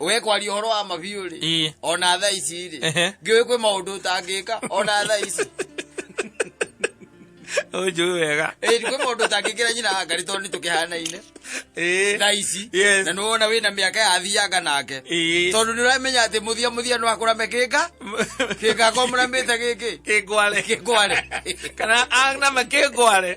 we kwaria horo wa mabiũ rĩ Ĩĩ. ona tha ici rĩ Ehe. ngĩũĩ kwĩ maũndũ ũtangĩka ona tha ici unjui wega Ĩĩ, kwĩ maũndũ ũtangĩkĩra nyina hangari tondũ nĩ tũkĩhanaine Ĩĩ. tha ici Yes. na nĩ wona wĩna mĩaka yathianga nake Ĩĩ. tondũ nĩ ũramenya atĩ mũthia mũthia no akũrame kĩnga kĩnga komũramĩte gĩkĩ kĩngware kĩngware kana aname kĩngware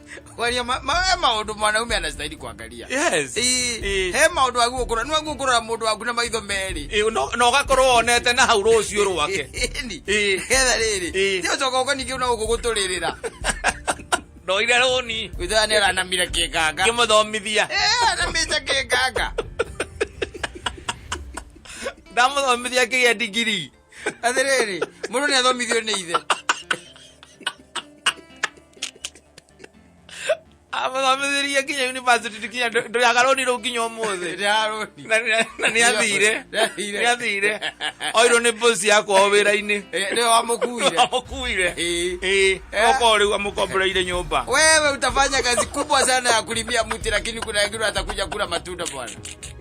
Waria ma- ma- he maundu mwanaume anastahili kuangalia yes Ii, Ii. he maundu waguokura nwaguokurora mundu waku na maitho meri Ĩ, no- na ũgakorwo wonete na hau rũciũ rwake Ĩni, Ii. getha riri Ii. ti ucoka uko ningi una uku guturirira ndoire rũni witha ni aranamire kinganga ngĩmũthomithia Eh, anamite kinganga ndamũthomithia ngĩgĩa ndigiri athiriri mundu ni athomithio ni ithe amathomithirie nginya university nginya ndũrĩaga rũni rũu nginya ũmũthĩ na nĩ athire nĩ athire oirwo nĩ mbosi yakwa o wĩra-inĩ nĩwe wamũkuire wamũkuire okorwo rĩu amũkomboreire nyũmba wewe utafanya kazi kubwa sana ya kulimia mti lakini kuna wengine watakuja kula matunda bwana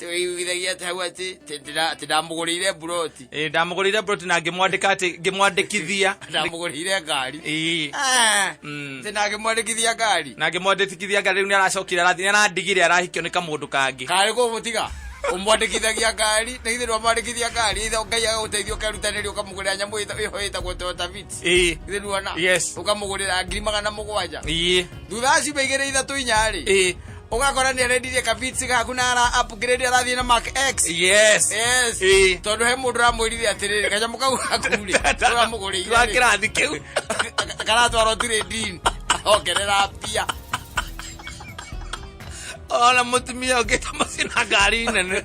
twĩiguithagia atĩ hau atĩ atĩ ndĩra- atĩ ndamũgũrĩire mburoti Ĩĩ, ndamũgũrĩire broti na ngĩmwandĩka atĩ ngĩmwandĩkithia ndamũgũrĩire ngari Ĩĩ. Ah, Mm. atĩ ndangĩmwandĩkithia ngari na ngĩmwandĩkithia ngari rĩu nĩ aracokire arathi nĩ arandigire arahikio nĩ kamũndũ kangĩ karĩ kũmũtiga ũmwandĩkithagia ngari na ithe ndwamwandĩkithia ngari ithe ngai agagũteithia ũkerutanĩria ũkamũgũrĩra nyamũ ĩta- ĩho ĩtagwo toyota vit Ĩĩ. ithe nuona Yes. ũkamũgũrĩra ngiri magana mũgwanja Ĩĩ. thutha wa ciumia igĩrĩ ithatũ inyarĩ Ĩĩ. ũgakora nĩ arendirie kabitsi gaku na ara upgrade arathiĩ na mark x yes yes Ĩĩ. tondũ he mũndũ ũramwĩrire atĩrĩrĩ kanyamũ kau gakurĩ ũramũgũrĩire Wa kĩrathi kĩu karatwarwo tirĩ ndini ongerera mbia ona mũtumia ũngĩ ta macina ngari nene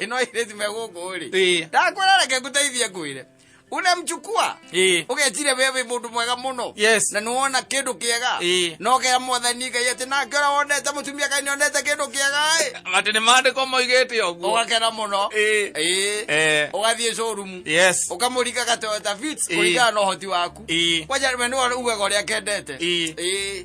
ino irezi mekuguri Ĩĩ. ndakwĩrareke ngũteithie ngwĩre unemchukua Ĩĩ. ũgetire wewe mũndũ mwega mũno Yes. na nĩwona kĩndũ kĩega Ĩĩ. nokera mwathani ngai atĩ nake ũrĩa wonete mũtumia kai nĩonete kĩndũ kĩega ĩ atĩ nĩ maandĩko moigĩte ũguo ũgakena mũno Ĩĩ. Ĩĩ. Eh. ũgathiĩ showroom yes ũkamũringa gatoyota fits Ĩĩ. kũringana na ũhoti waku Ĩĩ. kwanja we nĩwe ugaga ũrĩa kendete Ĩĩ. Ĩĩ.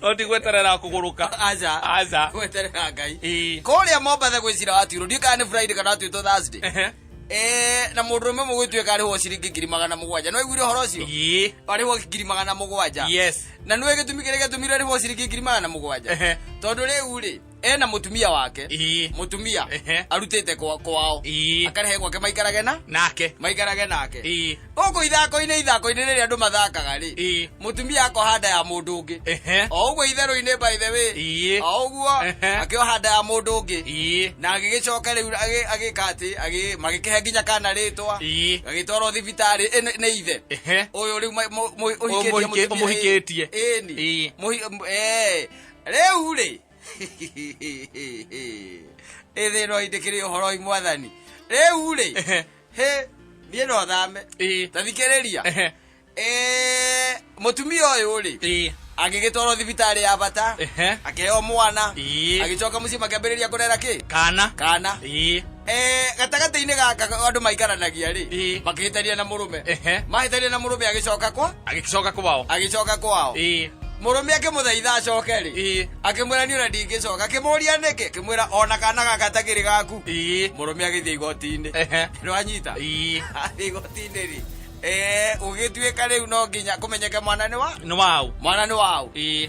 no ndigweterera kũgũrũka aca aca gweterera ngai ĩĩ kũrĩa mombatha gwĩ cira watuirwo ndiũ kana nĩ friday kana watuĩtwo thursday Ehe. Eh, na mũndũ ũmwe mũgwĩtuĩka arĩhwo ciringi ngiri magana mũgwanja no aiguire ũhoro ũcio ĩĩ arĩhwo ngiri magana mũgwanja yes na nĩwe gĩtumi kĩrĩa gĩatũmire arĩhwo ciringi ngiri magana mũgwanja Ehe. tondũ rĩu rĩ ena mutumia wake Ii. mutumia Ehe. arutite kwa- kwao Ii. akarehe gwake maikarage na nake maikarage nake Ii. gũkũ ithako-inĩ ithako-inĩ rĩrĩa andũ mathakaga rĩ Ii. mutumia akoha nda ya mũndũ ũngĩ Ehe. o ũguo itherũ-inĩ by the way Ii. o ũguo Ehe. akĩoha nda ya mũndũ ũngĩ Ii. na agĩgĩcoka rĩu agĩ- agĩka atĩ agĩ- magĩkĩhe nginya kana rĩtwa Ii. agĩtwarwo thibitarĩ ĩ, nĩ- nĩ ithe Ehe. ũyũ rĩu ma- mu- mu- ũhikĩtie mũhikĩ- mũtumia- mũhikĩtie. ĩni Ii. Mũhi- m- eh, rĩu rĩ ĩthĩno indĩkĩrĩ ũhoroi mwathani rĩu rĩ hĩ niĩ no thame Ĩĩ. ta thikĩrĩria Ehe. Eh, mũtumia ũyũ rĩ Ĩĩ. agĩgĩtwarwo thibitarĩ ya bata Ehe. akĩheo mwana Ĩĩ. agĩcoka mũciĩ makĩambĩrĩria kũrera kĩ kana kana Ĩĩ. Eh, gatagatĩ-inĩ gaka andũ maikaranagia-rĩ Ĩĩ. makĩhĩtania na mũrũme Ehe. mahĩtania na mũrũme agĩcoka kwa agĩcoka kwao agĩcoka kwao Ĩĩ. mũrũme akĩmũthaitha acoke-rĩ Ĩĩ. akĩmwĩra niĩ ona ndingĩcoka akĩmũria nĩkĩ akĩmwĩra ona kana gaka takĩrĩ gaku Ĩĩ. mũrũme agĩthiĩ igoti-inĩ Ehe. nĩwanyita Ĩĩ. athiĩ igoti-inĩ-rĩ Eh, gũgĩtuĩka rĩu no nginya kũmenyeke mwana nĩ wa nĩ wau mwana nĩ waũ Ĩĩ.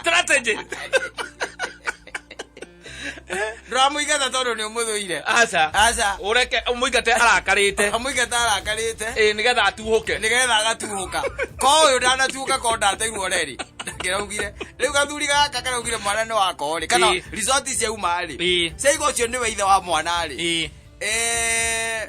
strategy ndũramũigata tondũ nĩ ũmũthũire aca aca ũreke mũingate arakarĩte amũigata arakarĩte ĩ nĩgetha atuhũke nĩgetha agatuhũka ko ũyũ ndanatuhũka ko ndateirwo reri ndakĩraugire rĩu gathuri gaka karaugire mwana nĩ wakorĩ kana Ĩĩ. resort ciauma rĩ Ĩĩ. ciaiga ũcio nĩwe ithe wa mwana rĩ Ĩĩ. Eh,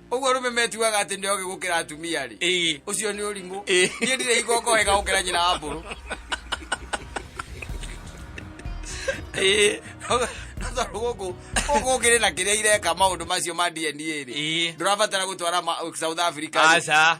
ũguo rũme metuaga atĩ nĩ ogĩ gũkĩra atumia rĩ Ĩĩ. ũcio nĩ ũrimũ Ĩĩ. niĩ ndirĩ igongo wega gũkĩra nyina wa mbũrũ Ĩĩ. no tondũ gũkũ gũkũ kĩrĩ na kĩrĩa ireka maũndũ macio ma dna rĩ Ĩĩ. ndũrabatara gũtwara ma- south africa rĩ. aca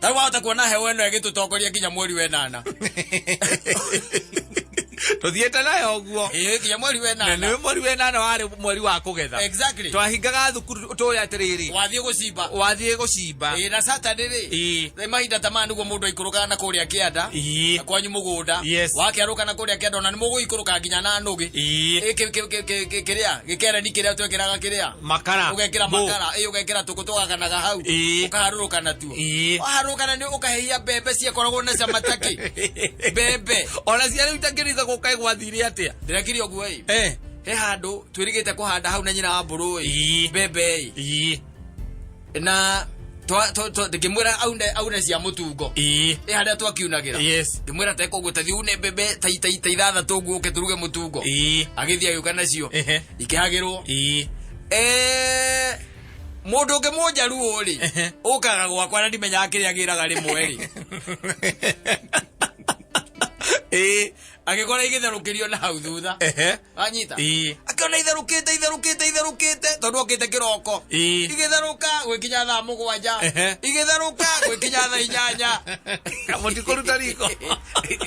tarä wahota kuona hewa ä no ä gä tå tongoria nginya mweri wenana tå thiä te nayo å guo nginya mweri na wenana nä mweri wenana warä mweri wa kå getha Exactly. twahingaga thukuru tå rä atä rä rä wathiä gå cimba wathiä gå cimba Ĩĩ, na saturday rä Ĩĩ. rä mahinda ta maya nĩguo mũndũ aikũrũkaga na kũrĩa kĩanda Ĩĩ. na kwanyu mũgũnda Yes. wakerũka na kũrĩa kĩanda ona nĩ mũgũikũrũka nginya na nũgĩ Ĩĩ. Ĩ, kĩ- kĩ- kĩ- kĩ- kĩ- kĩrĩa gĩkereni kĩrĩa twekĩraga kĩrĩa makara ugekira ngũ. makara ĩ ugekira tũkũ tũgakanaga hau Ĩĩ. ũkaharũrũka natuo Ĩĩ. waharũrũka na nĩ ũkahehia mbembe ciakoragwo na cama takĩ mbembe ona cia rĩu itakĩrĩga gũkaĩ gwathire atĩa ndĩrekire ũguo ĩ Eh, he handũ twĩrĩgĩte kũhanda hau na nyina wa mbũrũ ĩ Ĩĩ. mbembe ĩ ii. na twa- twa- twa- ngĩmwĩra aune aune cia mũtungo ĩ ĩ harĩa twakiunagĩra yes ngĩmwĩra tekũguo tathi une mbembe ta- ta- ta ithathatũ ũguo ũke tũruge mũtungo ĩ agĩthiĩ agĩũka nacio Ehe. ikĩhagĩrwo ĩ Eh, mũndũ ũngĩ mũnjaruo rĩ Ehe. ũkaga gwakwa na ndimenyaga kĩrĩa gĩraga rĩmwe rĩ ĩ agĩkora igĩtherũkĩrio na hau thutha ehe anyita Ii. akiona itherukite itherukite itherukite tondu okite kiroko Ii. igitherũka gwĩkinya thaa mũgwanja Ehe. igitherũka gwĩkinya thaa inyanya mũtikũruta riko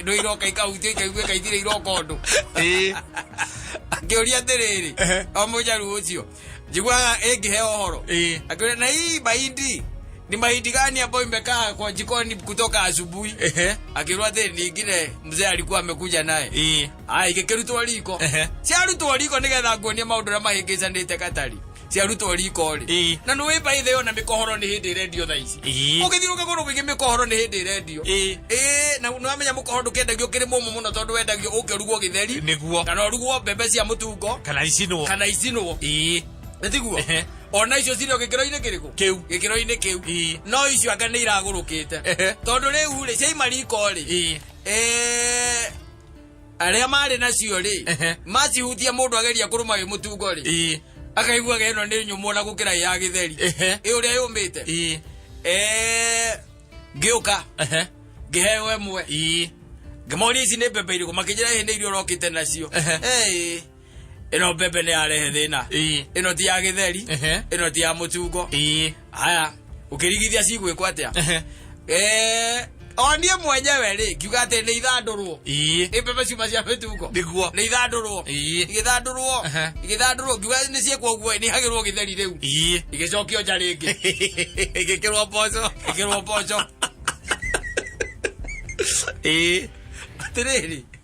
ndå iroka ikahutio ikaigua ikaithire iroka ũndũ Ii. akĩũria atĩrĩrĩ Ehe. o mũjaru ũcio njiguaga ĩngĩheo ũhoro Eh. akĩũria na hii mahindi ni mahindi gani ambayo imekaa kwa jikoni kutoka asubuhi Ehe. akĩrwo atĩ ningine mzee alikuwa amekuja naye Eh. aya igĩkĩrutwo riko Ehe. ciarutwo riko nĩgetha nguonie maũndũ ũrĩa mahĩngĩcanĩte katari ciarutwo riko rĩ Eh. na nĩ wĩmbaithĩo na mĩkohoro nĩ hĩndĩ ĩrendio thaa ici Ii. ũgĩthiũrũka kũndũ kũingĩ mĩkohoro nĩ hĩndĩ ĩrendio Ii. Ĩĩ, na nĩwamenya mũkohoro ndũkendagio ũkĩrĩ mũmũ mũno tondũ wendagio ũkĩrugwo gĩtheri nĩguo kana ũrugwo mbembe cia mũtungo kana icinwo kana icinwo ĩĩ nĩtiguo Ehe. ona icio cirĩ o gĩkĩro-inĩ kĩrĩkũ Kĩu. gĩkĩro-inĩ kĩu Ii. no icio anga nĩ iragũrũkĩte Ehe. tondũ rĩu rĩ ciaima riko rĩ Ii. eh, arĩa marĩ nacio rĩ Ehe. macihutia mũndũ ageria kũrũma wĩ mũtungo rĩ ĩ akaiguaga ĩno nĩ nyũmũ ona gũkĩra ĩ ya gĩtheri Ehe. ĩ ũrĩa yũmĩte ĩ Eh, ngĩũka ehe ngĩheo ĩmwe ĩ ngĩmoria ici nĩ mbembe irĩkũ makĩnjĩra ĩhĩ nĩ iria ũrokĩte nacio Ehe. Eh, ĩno mbembe nĩ yarehe thĩna Ĩĩ. ĩno ti ya gĩtheri Ehe. ĩno ti ya mũtungo Ĩĩ. haya ũkĩrigithia cigwĩkwo atĩa Ehe. Eh, o niĩ mwenyewe rĩ ngiuga atĩ nĩ ithandũrwo Ĩĩ. nĩ mbembe ciuma cia mĩtungo Nĩguo. nĩ ithandũrwo Ĩĩ. igĩthandũrwo Ehe. igĩthandũrwo ngiuga nĩ ciĩkwo ũguo nĩ hagĩrwo gĩtheri rĩu Ĩĩ. igĩcokio nja rĩngĩ Ĩgĩkĩrwo mboco. ĩkĩrwo mboco Ĩĩ. atĩrĩrĩ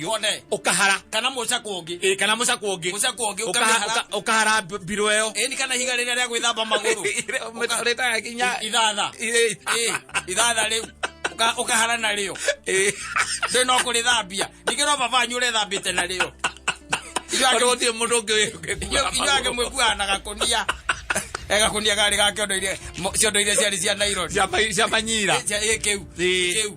yone ukahara kana mucakwo ungi ä kana må cakwo ngä mucakwo ungi ukamihara ukahara mbirå ä yo eni kana higa rĩrĩa rĩa gwĩthamba magũrũ rä taga kinya ithatha Ĩ, Ĩ, ithatha rĩu Ũka- ũkahara na rĩo ĩ. ndĩ no kũrĩthambia ningĩ no baba wanyu ũrethambĩte na rĩo Korwo gũtirĩ mũndũ ũngĩ wĩ- inyuage mwĩkuaga na gakũnia Eh, gakũnia garĩ ga kĩondo iria mo- ciondo iria ciarĩ cia naironi Ciama- ciamanyira Cia- ĩ, kĩu Ĩ. kĩu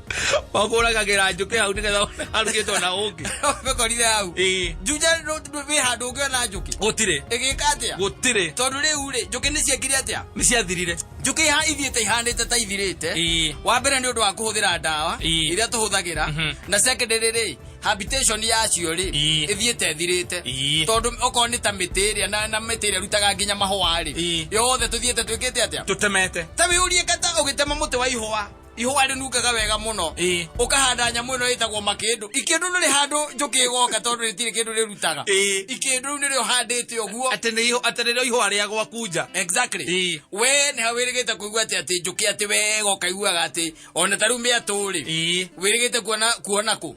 makũragagĩra njũkĩ hau nĩgetha arugĩtwo na ũngĩ mekorire hau Ĩĩ. njunja wĩ handũ ũngĩona njũkĩ gũtirĩ ĩgĩka atĩa gũtirĩ tondũ rĩu rĩ njũkĩ nĩ ciekire atĩa nĩ ciathirire njũkĩ iha ithiĩte ihanĩte ta ithirĩte Ĩĩ. wa mbere nĩ ũndũ wa kũhũthĩra ndawa Ĩĩ. iria tũhũthagĩra Mhm. na secondary rĩ habitation yacio rĩ Ĩĩ. ĩthiĩte ĩthirĩte Ĩĩ. tondũ okorwo nĩ ta mĩtĩ ĩrĩa na, na mĩtĩ ĩrĩa ĩrutaga nginya mahũa rĩ Ĩĩ. yothe tũthiĩte twĩkĩte atĩa tũtemete ta wĩyũrie kata ũgĩtema mũtĩ wa ihũa ihũa rĩnungaga wega mũno Ĩĩ. ũkahanda nyamũ ĩno ĩtagwo makĩndũ ikĩndũ nĩ rĩ handũ njũkĩ ĩgoka tondũ rĩtirĩ kĩndũ rĩrutaga Ĩĩ. ikĩndũ rĩu nĩrĩo handĩte ũguo atĩ nĩ iho- atĩ nĩrĩo ihũa rĩa gwakunja exactly Ĩĩ. we nĩ wĩrĩgĩte kũigua atĩ atĩ njũkĩ atĩ wega ũkaiguaga atĩ ona ta rĩu mĩatũ rĩ Ĩĩ. wĩrĩgĩte kuona kuona kũ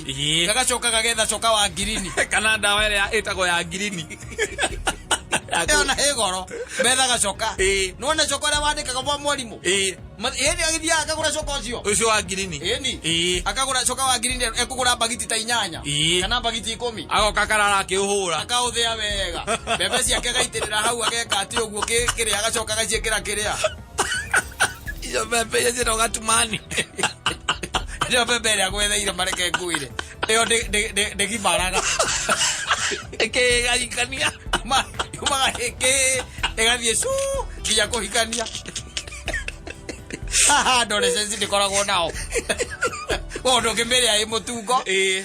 Ĩĩ. gagacoka gagetha coka wa ngirini kana ndawa ĩrĩa ĩtagwo ya ngirini Ya ĩyo kũ- na ĩ goro metha gacoka Ĩĩ. nona coka ũrĩa wandĩkaga mwa mwarimũ Ĩĩ. hĩndĩ agĩthiaga akagũra coka ũcio ũcio wa ngirini ĩni Ĩĩ. akagũra coka wa ngirini ekũgũra mbagiti ta inyanya Ĩĩ. kana mbagiti ikũmi agoka karara akĩũhũra akaũthĩa wega mbembe ciake agaitĩrĩra hau ageka atĩ ũguo kĩ- kĩrĩa agacoka agaciĩkĩra kĩrĩa icio mbembe iria ciĩtagwo gatumani icio mbembe ĩrĩa gwetheire mareke nguire ĩyo ndĩ- ndĩ- ndĩ- ndĩgibaraga ĩkĩgayikania yumaga ĩkĩ ĩgathiĩ cu nginya kũhikania haha ndore cenci ndĩkoragwo nao ũndũ ũngĩmĩrĩa ĩ mũtungo Ĩĩ.